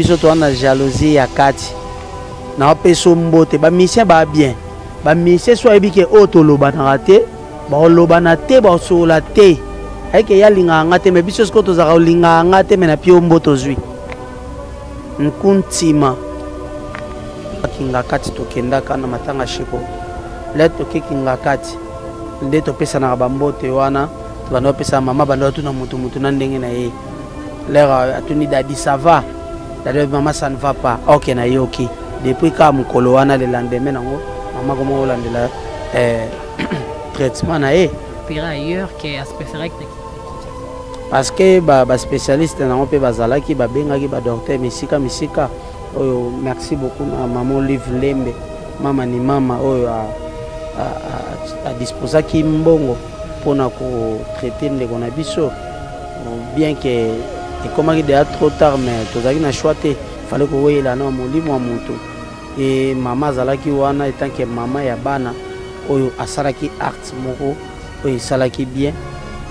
biso toza na jalousie ya kati na opesa mbote bamisien baa bien bamisien so ayebi ke oyo tolobanaka te bakolobana te bakosolola te ayeke ye alingaka nga te me biso sikoyo tozalaka kolingaka nga te me na pio mbote ozwi nkuntima akinga kati tokendaka na matanga shiko le tokekinga kati nde topesanaka bambote wana banda opesa mama banda otuna motu motu na ndenge na ye leur euh, atuni dadi ça va dadi oyebi mama ça ne va pas ok nayoki depuis kaka mokolo wana le lendemain nango mama komoko olandela euh, traitement na ye parce que baspécialiste ba nango mpe bazalaki babengaki badocteur misika misika oyo merci beaucoup na mama olive lembe mama ni mama oyo adisposaki mbongo mpona kotraite ndeko na biso Bien que ekomaki deja trop tard mais tozalaki na choix te fallait koweyela na molimo ya moto e mama azalaki wana etanke mama ya bana oyo asalaki art moko oyo esalaki bien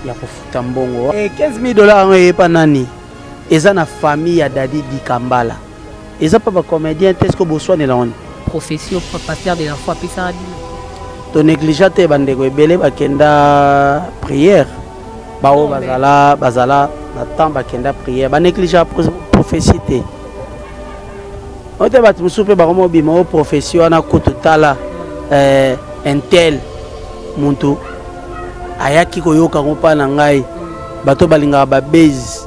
ya kofuta mbongo e 15 000 dollars yango eyepa nani eza na famille ya dadi dikambala eza pa ba comédien te ceque boswanela wana prophétie pasteur de la foi apesaka bino to négligea te bandeko ebele bakenda prière baoyo bazala bazala na temps bakenda prière banégligea prophétie te oyo te bato mosusu mpe bakoma obima o prophétie wana kutu tala eh, intel muntu ayaki koyoka yango mpa na ngai bato balingaka babase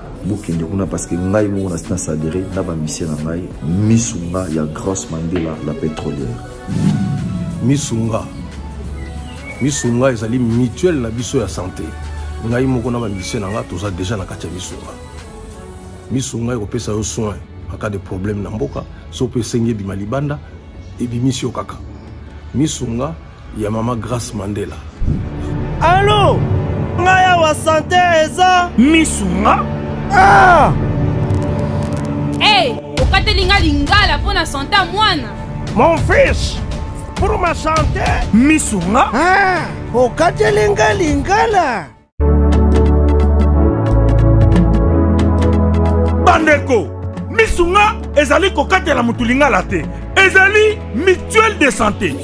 bokende kuna parce que ngai moko na sina sadere na bamisie na ngai misu nga ya grace mandela la pétrolière misu nga misu nga ezali mutuelle na biso ya santé ngai moko na bamisie na ngai toza déjà na kati ya misu nga misu ngai ekopesa yo soin en cas de problème na mboka so mpe esengi ebima libanda ebimisi yo kaka misu nga ya mama grace mandela alo ngai awa sante eza misu nga ah! hey, okateli nga lingala mpo na sante ya mwana mon fils pour ma sante misu nga ah! okateli nga lingala bandeko misu nga ezali kokatela motu lingala te ezali mutuelle de santé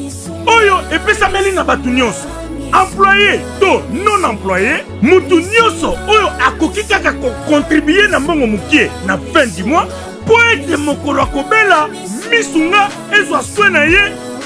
oyo epesameli na bato nyonso employe to non employe moto nyonso oyo akoki kaka kokontribue na mbongo mokie na fin du mois mpo ete mokolo akobela misu nga ezwa swe na ye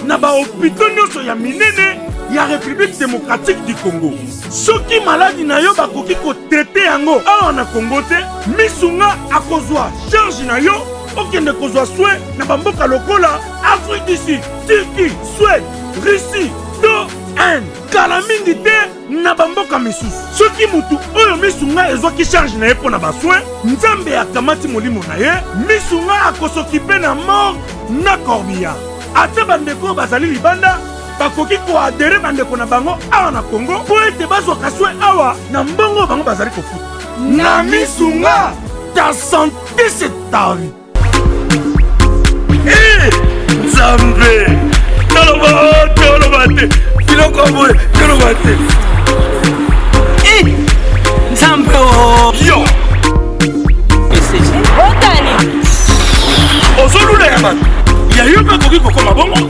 na bahopito nyonso ya minene ya république démocratique du congo soki maladi na yo bakoki kotrete yango awa na kongo te misu nga akozwa charge na yo okende kozwa swe na bamboka lokola afrique du sud turquie swede russie to inde kala mingi te na bamboka misusu soki motu oyo misu ngai ezwaki charge na ye mpo na baswe nzambe akamati molimo na ye misu ngai akosokipe na mort na corbillard ata bandeko oyo bazali libanda bakoki koadere bandeko na bango awa na congo mpo ete bazwaka swe awa na mbongo bango bazali kofuta na misu nga ta sante se tavi eh, nzambe toloba oh, toloba te biloko boye toloba te eh, nzambe oh. yo ozolula ya bato ya yo mpe akoki kokoma bongo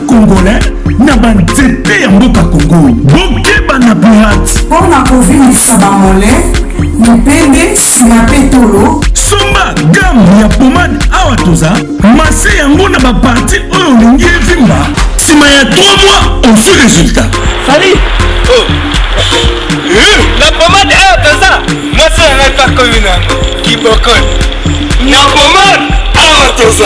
congolais na banzete ya mboka kongo bokeba na pirate mpo na kovimbisa bamole mipende nsima mpe tolo somba game ya pomade awa toza mase yango na baparti oyo olingi evimba nsima ya 3 mois ozwi resultat sali oh. na pomade awa toza mase yango epakomi na kibokoni na pomade awa toza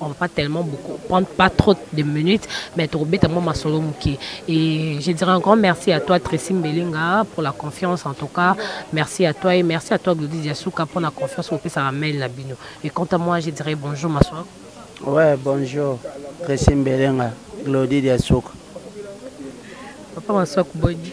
on va pas tellement beaucoup prendre pas trop de minutes mais tokobeta mwa masolo moke et je dirais un grand merci à toi Tracy Mbelinga pour la confiance en tout cas merci à toi et merci à toi Glody Diasuka pour la confiance opesaka mail na bino et quant à moi je dirais bonjour ma soeur ouais bonjour Tracy Mbelinga Glody Diasuka papa ma soeur kuboni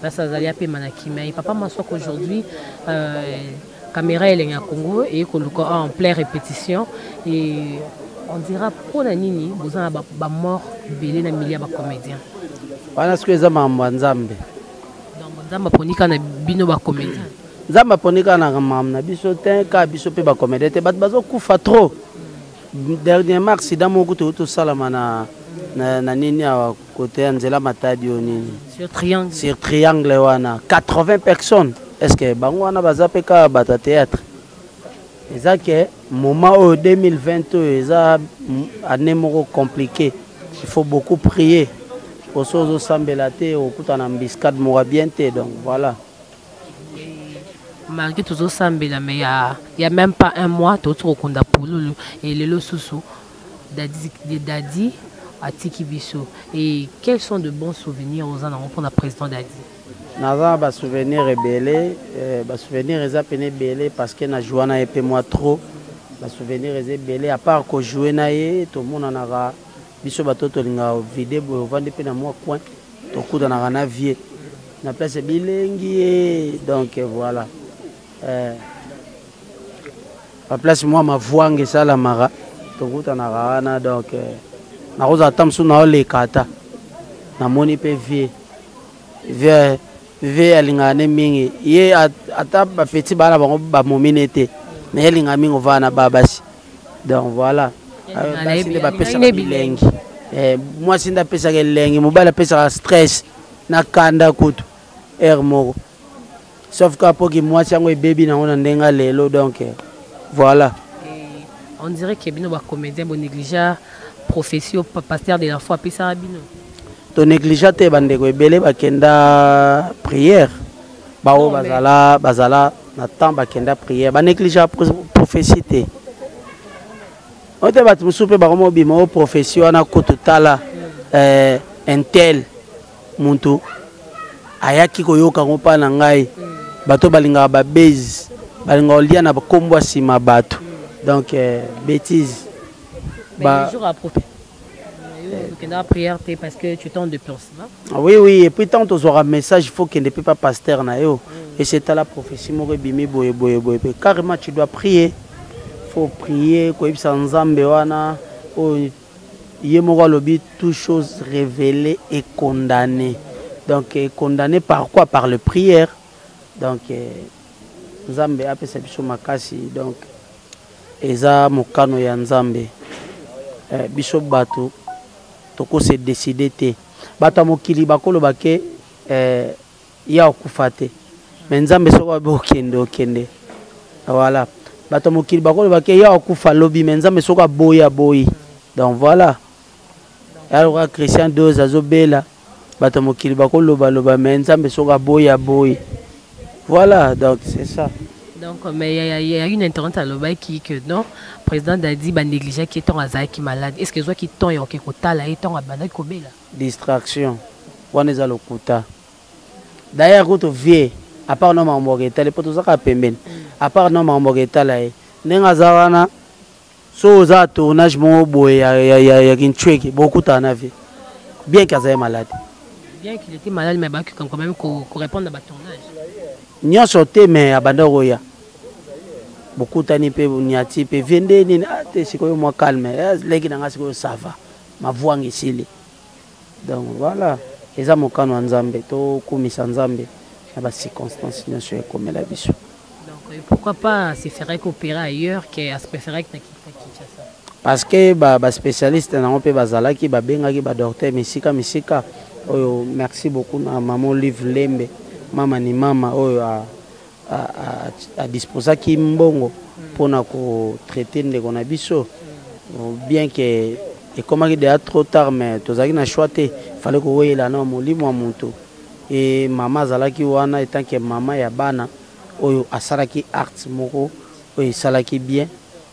place azali apema na kimia ye papa maswaka aujourd'hui euh, caméra elenge ya congo eye koluka en plein répétition et on dira mpo na nini boza na bamort ebele na milieu ya bacomédien wana soki eza mambo ya nzambe nzambe aponi kaka na bino bacomédien nzambe aponi kaka na mambo na biso te kaka biso mpe bacomédien te bato bazokufa trop dernièrement accident moko toyei tosalama na, na, na nini awa Côté ya nzela matadi oyo nini sur triangle sur triangle wana 80 personnes est ce que bango wana baza mpe kaka bato ya théâtre eza ke moment oyo 2020 oyo eza année moko compliqué il faut beaucoup prier oso ozosambela te okutana mbiscade moko bien te donc voilà malgré tozosambela mais ya, ya même pas un mois toti kokunda pululu elelo susu Daddy, Daddy atiki biso et quels sont de bons souvenirs oza nango mpona président Daddy naza na basouvenir ebele eh, basouvenir eza pene ebele parce que najoua na ye mpe mwa trop basouvenir eza ebele apart kojoue na ye tomonanaka biso bato tolingaka vide boye ovandi mpe na mwa coin tokutanaka na vie na place bilengi ye donc voilà eh. ba place mwa mavuanga esalamaka tokutanaka wana donc eh, nakozala ata mosusu naoleka ata namoni mpe vie vie vie alingaka ne mingi ye ata bapeti baa na bango bamomi ne te me ye alingaka mingi ovaa na baa basi donc voilà basi nde bapesaka bilengi eh, mwasi nde apesaka elengi mobali apesaka stress na kanda kutu heure moko sauf kaka mpo kimwasi yango ebebi nango na ndenge lelo donc voilà on dirait que bino bacomédien bonégligea prophétie oyo pasteur de la foi apesaka bino tonégligea te bandeko ebele bakenda prière baoyo bazala bazala na temps bakenda prière banégligea prophétie te oyo te bato mosusu mpe bakoma obima o prophétie wana kutu tala eh, intel moto ayaki koyoka yango mpa na ngai bato balingaka babezi balingaka kolia na nkombo nsima bato donc euh, bétise ba... okendaka prière te parce que tu temps de pense ah oui oui et puis tant tozwaka message faut kende mpe pa pasteur na yo mm. et c'est à la prophétie moko ebimi boye boye boye mpe carrément tu dois prier faut prier koyebisa nzambe wana oyo ye moko alobi tout chose révélé et condamné donc euh, condamné par quoi par le prière donc euh, nzambe apesa biso makasi donc eza mokano ya nzambe eh, biso bato tokose décide te bato ya mokili bakoloba ke eh, ya okufa te me nzambe soki abe okende okende voilà bato ya mokili bakoloba ke ya okufa lobi me nzambe soki aboyi aboyi donc voilà yaloka christian dose azobela bato ya mokili bakolobaloba me nzambe soki aboyi aboyi voilà donc c'est ça donc mais il y, a, y a une internet alobaki que non président dadi banégligaki ntango azalaki malade est ce que ezwaki temps ya oke kotala ye ntango abandaki kobela distraction wana eza lokuta d'ailleurs kutu vie apart no makambo yaka etali mpo tozaka pembeni apart no makambo yaka etala ye ndenge aza wana so oza tournage moko boye ya, ya, ya, ya kinchweki bokutana na vie bien ke azali malade bien qu'il était malade mais abaki quand même korépondre na batournage nyonso te mais abanda koya bokutani mpe bonyati mpe vie nde nini ah, te sikoyo mwa calme eh, leki na ngai sikoyo sava mavuanga esili donc voilà eza mokano ya nzambe tokumisa nzambe na bacirconstance nyonso ekomela biso euh, pourquoi pas se ferait coopérer ailleurs que se préférait que Kinshasa parce que ba ba spécialiste nango mpe bazalaki babengaki ba docteur misika misika oyo merci beaucoup na mama olive lembe mama ni mama oyo a adisposaki mbongo mpona kotraite ndeko na biso bien ke ekomaki deja trop tard mais tozalaki na choix te fallait koweyela na molimo ya moto e mama azalaki wana etanke mama ya bana oyo asalaki art moko oyo esalaki bien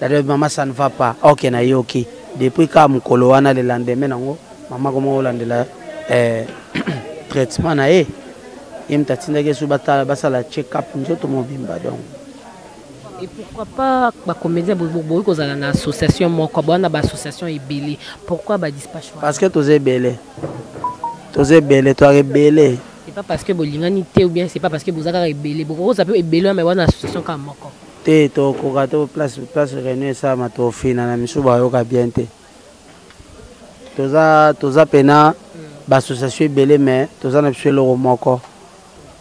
dada mama ça ne va pas ok nayoki depuis kaka mokolo wana le lendemain nango mama koma kolandela eh, traitement na ye ye moto atindaki esu basala check up nzoto mobimba donc et pourquoi pas bacomédien bokoki kozala na association moko bowana baassociation ebele pourquoi badispatch parce que toza ebele toza ebele toyaka ebele c'est pas parce que bolingani te ou bien c'est pas parce que boza kaka ebele bokoki kozala mpe ebele wana association kaka moko te tokoka to place place réunion esalama tofina na misu bayoka bien te toza toza mpena baassociation ebele mais toza na biso eloko moko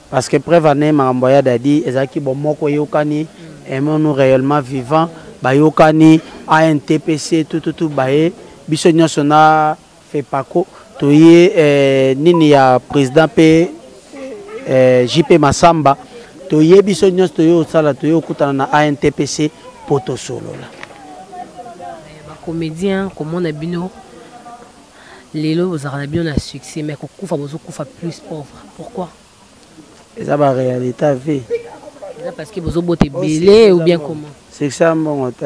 parce que preuve ane makambo ya dadi ezalaki bomoko eyokani emonu réellement vivant bayokani antpc tututu baye biso nyonso na Fepaco toye eh, nini ya president mpe eh, JP Masamba toye biso nyonso toye osala toye okutana na ANTPC mpo tosolola. Eh, Bacomédien komona bino lelo bozalaka na bino na succès mais kokufa bozokufa plus pauvre pourquoi eza baréalité ya vie eza parce que bozobota ebele ou bien comment succès ya mbongo te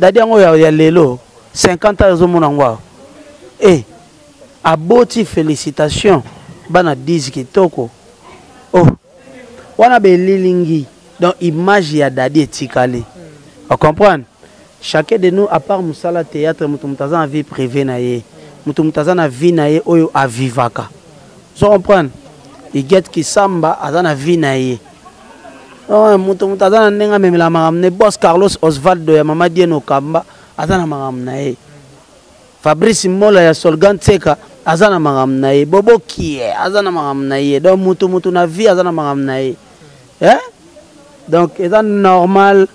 Dadi yango ya, ya lelo 50 ans ezomona yango awa e aboti félicitation bana 10 kitoko oh wana belilingi donc image ya dadi etikali hmm. ocomprendre chacun de nous apart mosala théâtre moto moto aza na vie privée na ye moto moto aza na vie na ye oyo avivaka ozo comprendre igete kisamba aza na vie na ye Oh, moto moto aza na ndenge amemela makambo ne bos carlos osvaldo ya mama dieno kamba aza na makambo na ye fabrice mola ya solgan tseka aza na makambo na ye bobokie aza na makambo na ye donc moto moto na vie aza na makambo na ye eh? donc eza normal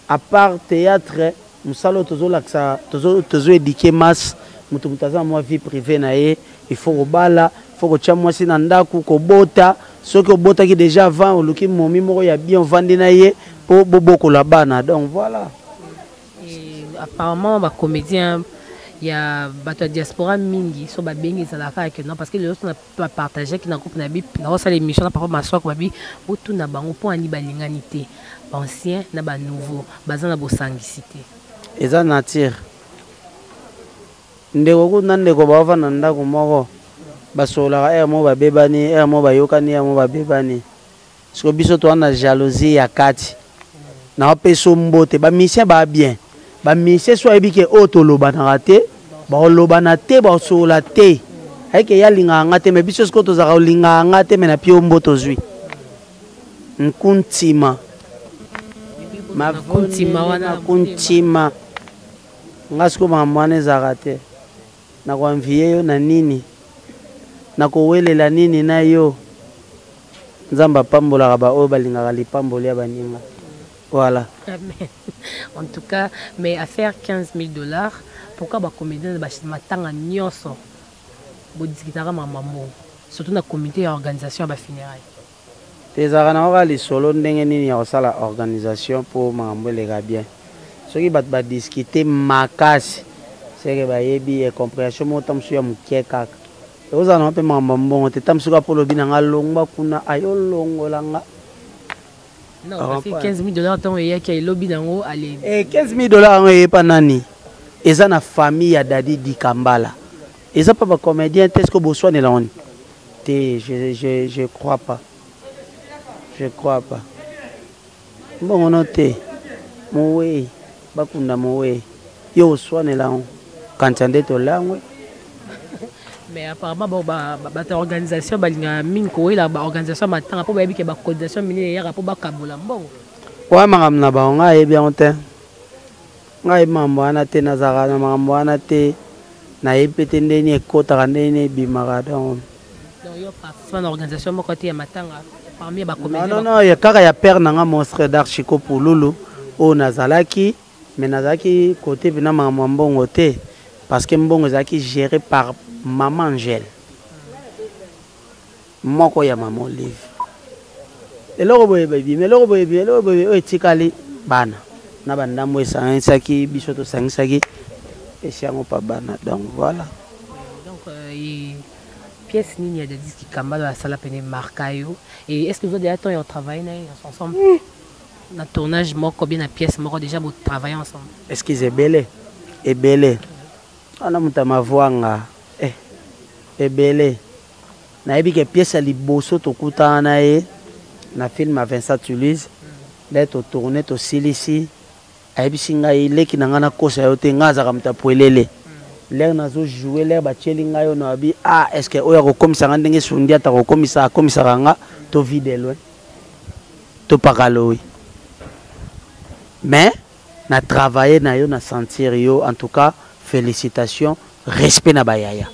A part theatre musala oyo tozo lakisa tozo tozo éduquer masse mutu mutu aza mwa vie privée na ye il faut kobala faut kotia mwasi na ndaku kobota soki obotaki déjà avant oluki momi moko ya bien ovandi na ye po bobokola bana donc voilà Et apparemment ba comédiens ya bato ya diaspora mingi so babengi ezalaka kaka ke non parce que lelo so na ba partager ki na groupe na bi na osala émission na papa maswako babi botuna bango mpo ani balingani te ancien na ba nouveau baza na bosangisi te eza nature ndeko kutu na ndeko baofanda ndako moko basololaka ere moko babebani ere moko bayokani ere moko babebani siko biso toza na jalousie ya kati na opeso mbote ba musicien ba bien ba musicien so ayebi ke oyo tolobanaka te baolobana te baosolola te ayike ye alingaka nga te me biso sikoyo tozalaka olingaka nga te me na pio mbo tozwi nkuntima makuntima wana kuntima nga sikoyo makambo wana ezalaka te Nako envier yo na nini? Nako welela nini na yo? Nzambe apambolaka ba oyo balingaka lipamboli ya baninga. Voilà. Amen. En tout cas, mais à faire 15 000 dollars, pourquoi ba comédiens ba matanga nyoso bo discutaka ma maman surtout na comité ya organisation ya ba funérailles. Ezalaka nango kaka lisolo ndenge nini ya kosala organisation po makambo eleka bien. Soki batu ba discuter makasi ce que bayebi et comprehension moko tango mosusu ya mukie kaka. Ekozala nango pe makambo ya mbongo te tango mosusu kaka po olobi na nga longwa kuna ayi olongola nga. Nako passer 15000 dollars tango eyaki ayi lobi nango alembi. Eh 15000 dollars yango eye epa nani? Eza na famille ya Daddy Dikambala. eza pa ba comédien te ceque boswanela wani te je, je, je crois pas je crois pas mbongo no te mowei bakunda mowei yo oswanela yango kanisa nde tolangwe mais apparemment bon ba bata organisation balinga mingi kowela ba organisation matanga mpo bayebi ke ba coordination minene eyaka mpo bakabola mbongo oya makambo na bango ngai ayebi yango te ngai mambo wana te nazalaka na makambo wana te nayebi mpe te ndenge nini ekotaka ndenge nini ebimaka donc kaka ya père na nga monstre dar chico pululu oyo nazalaki mais nazalaki kote mpena makambo ya mbongo te parce que mbongo ezalaki géré par maman angèle moko ya mama olive eloko boye ebimi eloko boye ebimi eloko boye oyo etikali bana na bandambo esangisaki biso tosangisaki esi yango pa bana donc voilà donc euh, pièce nini ya dadis kikambalo asala pene marka yo et est ce que oza déjà temps ya travaille na ye ensemble mm. na tournage moko bien na pièce moko déjà botravaille ensemble excuse ebele ebele wana moto ya mavwanga eh, ebele nayebi ke pièce ya liboso tokutana na ye na film ya Vincent Toulouse nde totourne tosilisi ayebisi ngai leki na ngai nakosa yo te ngai azalaka moto ya pwelele lere nazojoue lere batyeli ngai oyo nabi ah est ce que oyo akokomisa ngai ndenge sundi ata kokomisa akomisaka nga tovide loin topakalowi mais Na travailler na yo na sentir yo en tout cas felicitations respect na ba yaya.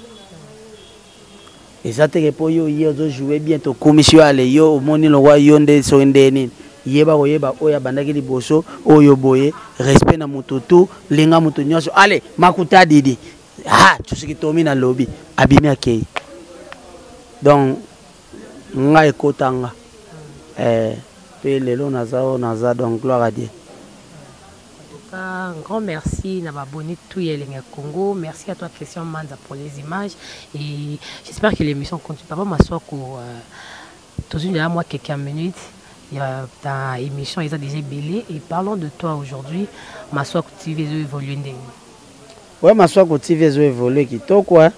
Eza teke po yo ye ozo jouer bien to kumisi yo ale yo omoni lokwa yo nde so nde nini yeba koyeba oyo abandaki liboso oyo boye respect na moto tu linga moto nyonso ale makuta didi ha tusiki tomi na lobi abimi akei donc nga ekota nga eh, pe lelo naza oyo naza donc gloire à dieu un grand merci na babonné tout ya elengi congo merci à toi christian manza pour les images et j'espère que l'émission continue papa maswako euh, tozwi nzela mwa quelques minutes ya ta émission eza déjà ebele et parlons de toi aujourd'hui maswako tv ezo évolue ndenge ouais maswako tv ezo évolue kitoko hein?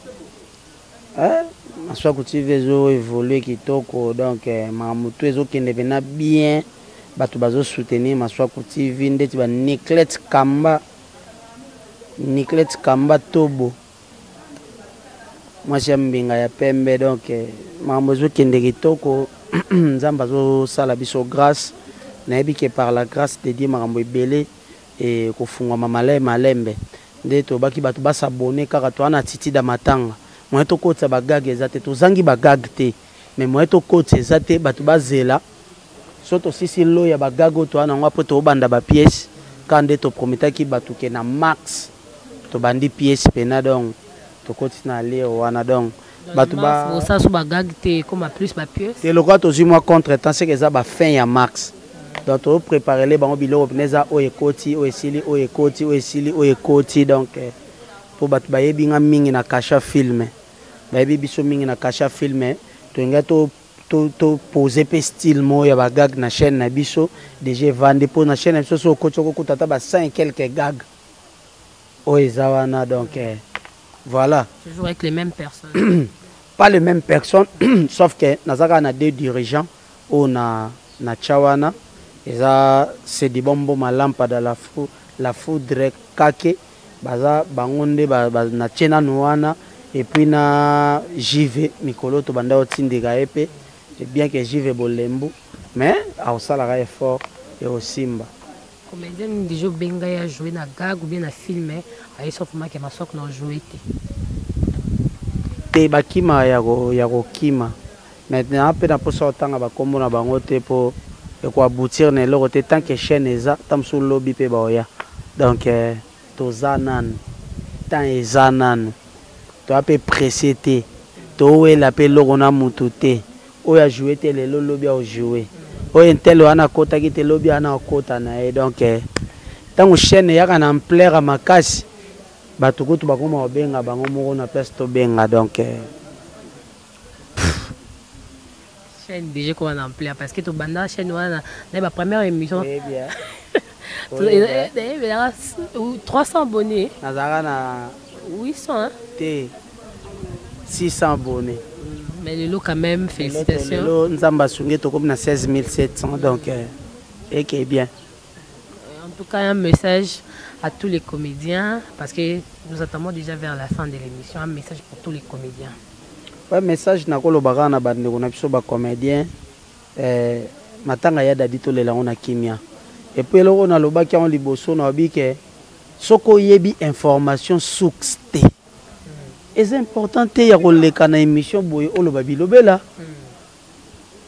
Eh, Maswaku TV ezo évoluer kitoko donc eh, makambo tout ezo kende pena bien bato bazo soutenir Maswaku TV ndeti ba Niclette Kamba Niclette Kamba Tobo mwasi ya mbinga ya pembe donc eh, makambo ezo kende kitoko Nzambe azo sala biso grâce nayebi que par la grâce de Dieu makambo ebele et kofungwama male malembe nde tolobaki bato ba s'abonner kaka toa na titida matanga moyen tokotisa ba gag eza te tozangi ba gag te mais moyen tokotisa eza te bato bazela so tosisi lo ya ba gag oyo toa nango apres tobanda ba pièce kaka nde toprometaki bato ke na max tobandi pièce pena donc tokotisi na lire wana donc bato ba osasu ba gag te ekoma plus ba pieux te lokola tozwi mwa contre temps seke eza ba fin ya max donc to préparer le bango biloko pene eza oyo ekoti oyo esili oyo ekoti oyo esili oyo ekoti donc eh, mpo bato bayebi nga mingi na kasha filme bayebi biso mingi na kasha filme tolinga to topose mpe style moko ya bagag na chaîne na biso deja evandi mpo na chaîne na biso so okoti okokuta ata ba 5 quelque gag oyo eza wana donc eh, voilà toujours avec les mêmes personnes pas les mêmes personnes sauf que naza kaka na deux dirigeants oyo na na tya wana eza sedibombo malampada la, fou, la foudre kake baza bango nde ba, ba, na tye nanu wana epuis na jive mikolo tobanda otindika ye mpe bien que jive bolembu mais akosalaka effort ekosimba Comedien nini deja obenga ya jouer na gag ou bien na film eh? ayesa ofuma ke masok na ojouer te te bakima ya kokima maintenant mpe na mposa otanga bakombo na bango te mpo ekoaboutir na eloko te tant que chaîne eza ta mosusu lobi mpe baoya donc eh, toza nanu temps eza nanu toya mpe presse te towela mpe eloko na motu te oyo a joue te lelo lobi ao joue oyo intel wana akotaki te lobi wana akota na ye donc eh, ntango chaîne eyaka na ampleur ya makasi bato kutu bakoma kobenga bango moko na place tobenga donc eh. chaîne déjà ekoma na ampleur parce que tobanda chaîne wana na ba première émission ebelaka 300 abonné nazalaka na 800 te 600 abonné mais lelo quand même félicitations lelo nzambe asungi tokomi na 16700 donc euh, eke bien en tout cas un message à tous les comédiens parce que nous attendons déjà vers la fin de l'émission un message pour tous les comédiens ouais message nakolobaka na bandeko na biso bacomédien Eh matanga ya daddy tolela yango na kimia et puis eloko na lobaki yango liboso na lobi ke soki oyebi information source te eza important te ya koleka na émission boye oloba bilobela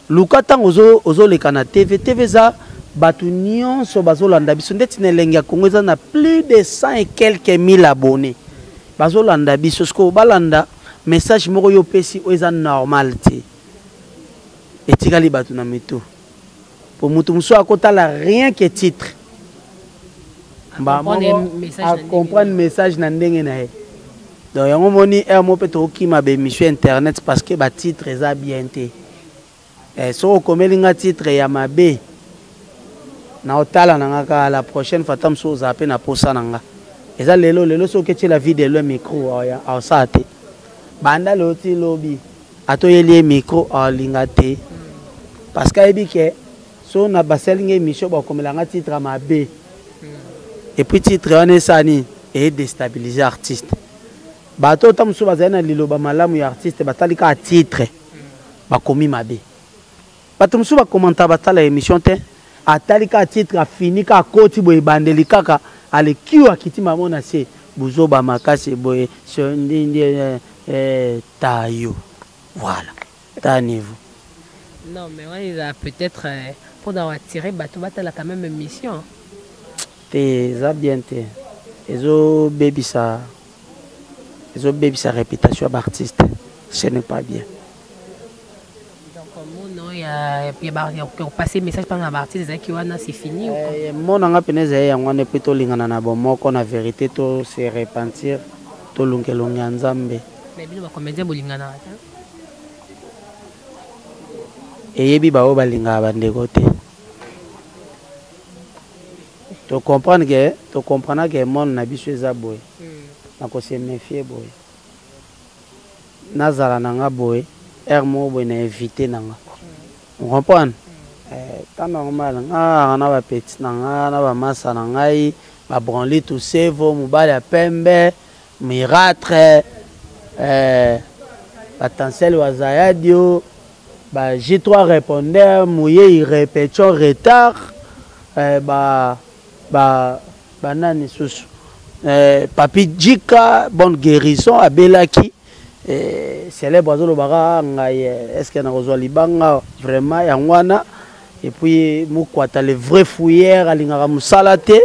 luka ntango ozoleka na tv tv eza bato nyonso bazolanda biso ndeti na elenge ya congo eza na plus de 100 et quelques mille abonné bazolanda biso sikoyo balanda message moko yo opesi oyo eza normal te etikali bato na mitu mpo moto mosusu akotala rien que titre acomprendre message na ndenge na ye donc yango omoni heure moko mpe tokokima baémission internet parce que batitre eza bien te eh, soki okomeli nga titre ya mabe na otala na nga kaka la prochaine fois ta mosusu ozala mpe na posa na nga eza lelo lelo soki oketiela vie de loin micro aosala te banda lelo ti lobi atoyeli ye micro alinga te parce que ayebi ke so na basali nga émission bakomela nga titre ya mabe et puis titre wana esala nini edestabilise artiste bato oyo ta mosusu bazali na liloba malamu ya artiste batali kaka titre bakomi mabe Bato mosusu ba commentaka batala emission te atali kaka titre afini kaka akoti boye ebandeli kaka alekiu akiti mamo na se buzoba makasi boye sondindi eh, eh, tayo voilà ta niveau Non, mais on est là peut-être euh, pour nous attirer, bah, tu vas t'as quand même une mission. te eza bien te ezobebisa ezobebisa réputation ya baartiste ce n'est pas bien kopase message mpanga na baartiste ezalaki wana se fini eh, mona nga mpena ezali yango wana epui tolingana na bomoko na verité to se repentir tolungelongi ya nzambe bino bacomédien bolinganaka te eyebi baoyo balingaka bandeko te tocomprendre ke tocomprendra ke monde na biso eza boye hmm. na kose méfie boye nazala na nga boye heure moko boye na invite na nga on comprendre eh, ta normal nga ah, na ba petit na nga na ba masa na ngai ba branli tout sevo mobali ya pembe miratre eh, ba tansel wazayadio ba G3 répondeur moye repetition retard eh, ba ba banani susu eh, papi jika bonne guérison abelaki eh, célèbre azolobaka ngai eh, est ce que nakozwa libanga vraiment yango wana epuis mokwata le vrai fouillère alingaka mosala te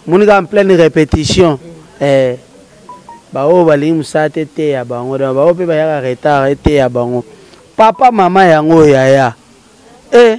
moni kaka en pleine répétition eh, baoyo balingi mosala te eteya bango donc baoyo mpe bayaka retard eteya bango papa mama yango yaya e eh,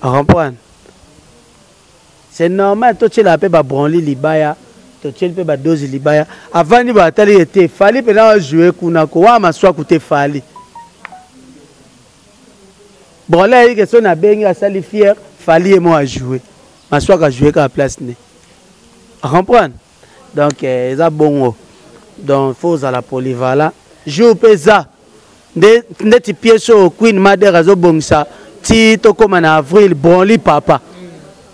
Comprendre? C'est normal to tshela pe ba branli libaya, to tsheli pe ba dozi libaya. Avandi ba atali ete fali pe na jouer kuna ko wa maswa kute fali. Branli ayi ke sona bengi asali fier fali emo a jouer. Maswa ka jouer ka place ne. Comprendre? donc eh, eza bongo donc faut ozala polyvalent jour mpe eza nde ndeti pièce oyo queen mader azobongisa ti tokóma na avril bronli papa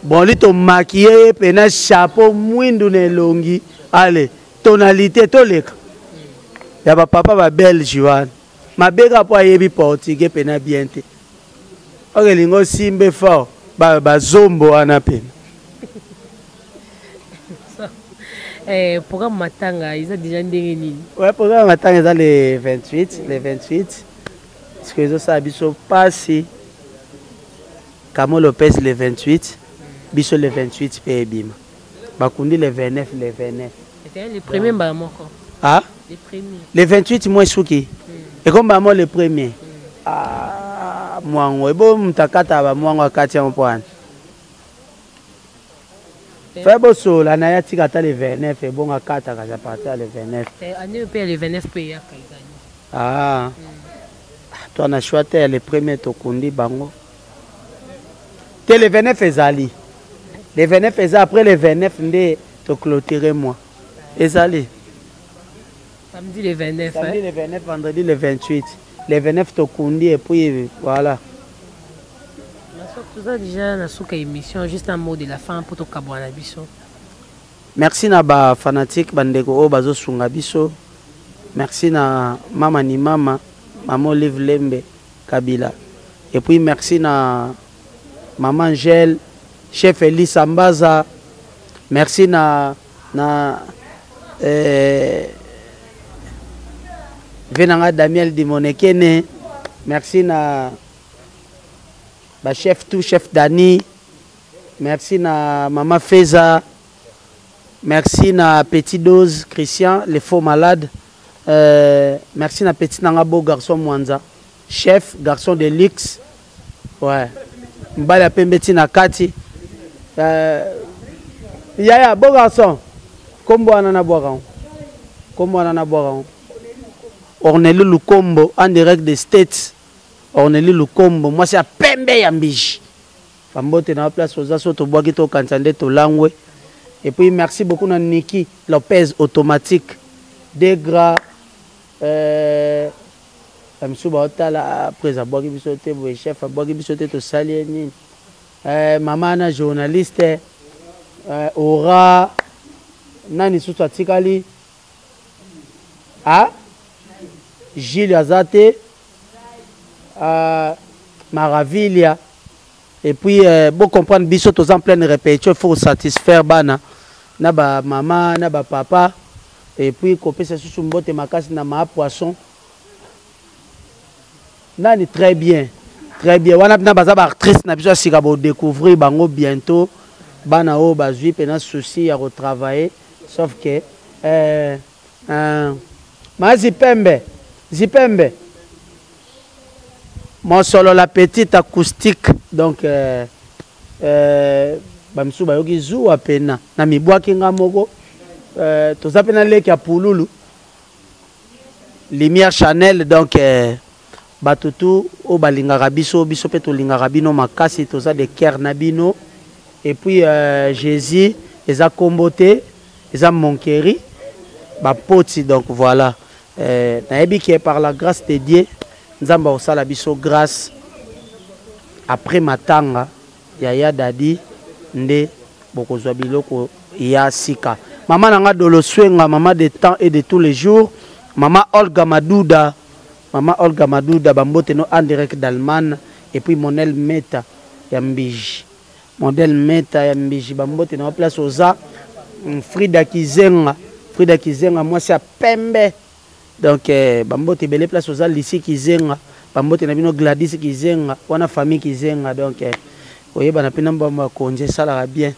bronli tomakiye ye mpe na chapeau mwindu na elongi ale tonalité toleka ya bapapa babelge wana mabe kaka mpo ayebi portugais mpe na bien te okelinga osimbe fort bazombo wana mpe Eh, programme matanga eza déjà ndenge nini ouais, programme matanga eza le 28 le 28 sikoyo ezosala biso mpasi kamo lopes le 28 biso le 28 mpe ebima bakundi le 29 le 29 le premier mbala moko ah? le, premier. le 28 moi suki hmm. ekombala mo le premier hmm. ah, mwango ebo moto akata bamwango akati yango mpo wana Fais bosola na ya tika ata le 29 ebonga kata kaza parti ya le 29. Eh année pe le 29 pe ya kaza. Ah. Mm. Toi na choix te le premier to kundi bango. Te le 29 ezali. Le 29 eza après le 29 nde to clôturer moi. Ezali. samedi le 29 samedi le 29 vendredi le 28 le 29 tokundi et puis voilà toza déjà na suka émission juste un mot de la fin mpo tokabwa na biso merci na bafanatique bandeko oyo bazosunga biso merci na mama ni mama mama olive lembe kabila et puis merci na mama angèle chef elisa mbaza merci na na eh, vie na nga damiel dimonekene merci na bachef tout chef dani merci na mama feza merci na petit dose christian le faux malade euh, merci na petit na nga beau garçon mwanza Chef garçon de luxe. Ouais. Mbali ya pembe ti na kati. Euh, yaya beau garçon. Kombo wana na bwaka. Kombo wana na bwaka. Orneli Lukombo en direct des States. Orneli Lukombo mwasi ya pembe ya mbiji. Fambote na place oza so tobwaki tokanisa nde tolangwe. Et puis merci beaucoup na Niki Lopez automatique. Degra Euh ba misusu bao tala après abwaki biso te boye chef abwaki biso te tosali ye nini euh mama na journaliste euh aura nani susu atikali ah Gilles aza te euh Maravilia et puis euh, bo comprendre biso toza en pleine répétition il faut satisfaire bana na ba mama na ba papa et puis kopesa susu mbote makasi na ma poisson nani très bien très bien wana mpena baza baactrice na biso ya sika bodécouvrir bango bientôt bana oyo bazwi mpena souci ya kotravailler sauf que euh, Ah. Ma zipembe, zipembe. Mosolo la petite acoustique. Donc, euh, euh, bamisu bayoki zuwa pena na mibwaki nga moko euh, toza mpe na leki ya pululu lumière chanel donc euh, Bato tout oyo balingaka biso, biso mpe tolingaka bino makasi, toza de coeur na bino. Et puis euh, Jesus eza kombo te, eza monkeri bapoti donc voilà. Euh, nayebi ke par la grâce de Dieu Nzambe akosala biso grâce après matanga ya ya dadi nde bokozwa biloko ya sika. Mama na nga Dolo Swenga, mama de temps et de tous les jours, mama Olga Maduda Maman Olga Maduda ba mbote no en direct d'Allemagne et puis Monel Meta ya Mbiji. Model Meta ya Mbiji ba mbote na place oza mm, Frida Kizenga. Frida Kizenga mwasi ya pembe. Donc eh, ba mbote belle place oza Lisi Kizenga. Ba mbote na bino Gladys Kizenga wana famille Kizenga donc eh, oyebana pe na mbamba ya konje esalaka bien.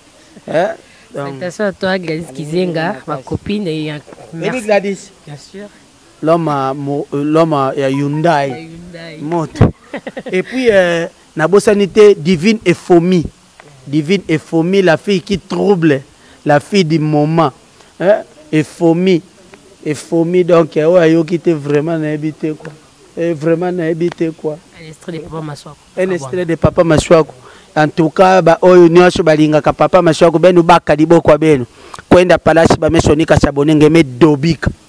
Eh? Donc, Attention à toi Gladys Kizenga, ma copine et un- Baby Gladys. Bien sûr. loma mo, euh, loma ya Hyundai moto et puis euh, nabosani te divine efomi divine efomi la fille qui trouble la fille du moment hein? efomi efomi donc euh, oyo ayoki te vraiment nayebi te quoi et eh, vraiment nayebi te quoi un extrait de papa maswako un extrait de papa maswako en tout cas baoyo nyonso balingaka papa maswako benu baka liboko ya benu kwenda palasi bamesonika sabone ngeme dobika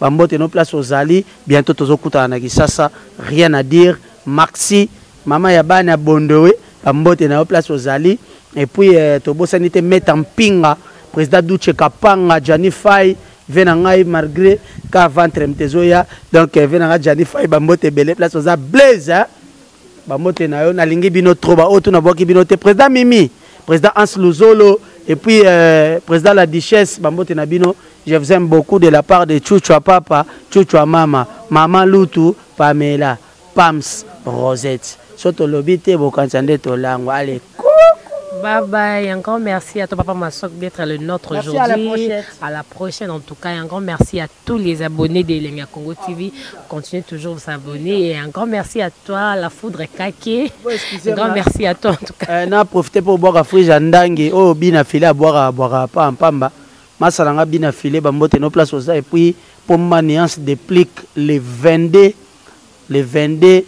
Ba mbote no place ozali bientôt tozo kutana na Kisasa rien à dire maxi maman ya bana ya bondowe ba mbote na yo place ozali et puis eh, tobosani te meta mpinga président Duce Kapanga Gianni Fay vie na ngai malgré ka ventre mtezoya donc eh, vie na ngai Gianni Fay ba mbote ebele place oza blaise hein? bambote na yo nalingi bino trop baoyo tu nabwaki bino te président mimi président hans luzolo et puis euh, président la duchesse bambote na bino je vous aime beaucoup de la part de chuchua papa chuchua mama mama lutu pamela pams rosette so tolobi te bokanisa nde tolangwa ale Bye bye, un grand merci à toi papa Masok d'être le nôtre aujourd'hui. À la prochaine en tout cas, un grand merci à tous les abonnés de Elenga Congo TV. Continuez toujours de s'abonner. Et un grand merci à toi, la foudre Kake. Un grand merci à toi en tout cas. Eh, na profité pour boire frige à Ndangue. Oh, bina filé à boire à boire à pas en pamba. Ma salanga bina filé, bambote nos places aux Et puis, pour ma nuance déplique les 22, les 22,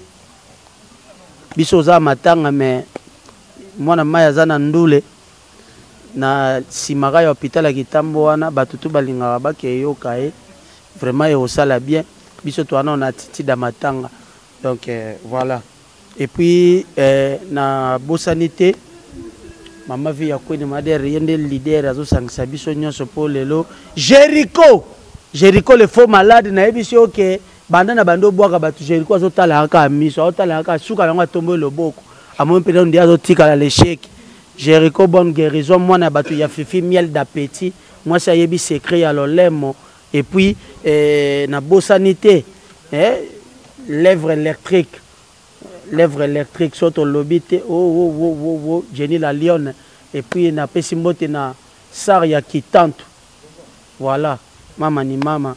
bisoza matanga, mais moi, na maya zana ndoule. na simaka ya hôpital ya Kitambo wana batu tout balingaka bake yoka ye vraiment et osala bien biso to wana on attitude à matanga donc euh, voilà et puis euh, na bosani te mama vie ya kwene madere ye nde leader azosangisa biso nyonso mpo lelo jericho jericho le faux malade nayebisi yo ke banda na banda obwaka bato jericho azotalaka kaka miso azotalaka kaka suka na yango atomboki loboko amoni mpenza nde azotikala lesheke Jericho bonne guerison mwana ya batu ya fifi miel d'appetit mwasi ayebi secret ya lolemo et puis eh, na bosani te eh, lèvre électrique lèvre électrique so tolobi te o oh, o oh, o oh, o o Jenny la lionne et puis napesi mbote na sar ya kitantu voilà mama ni mama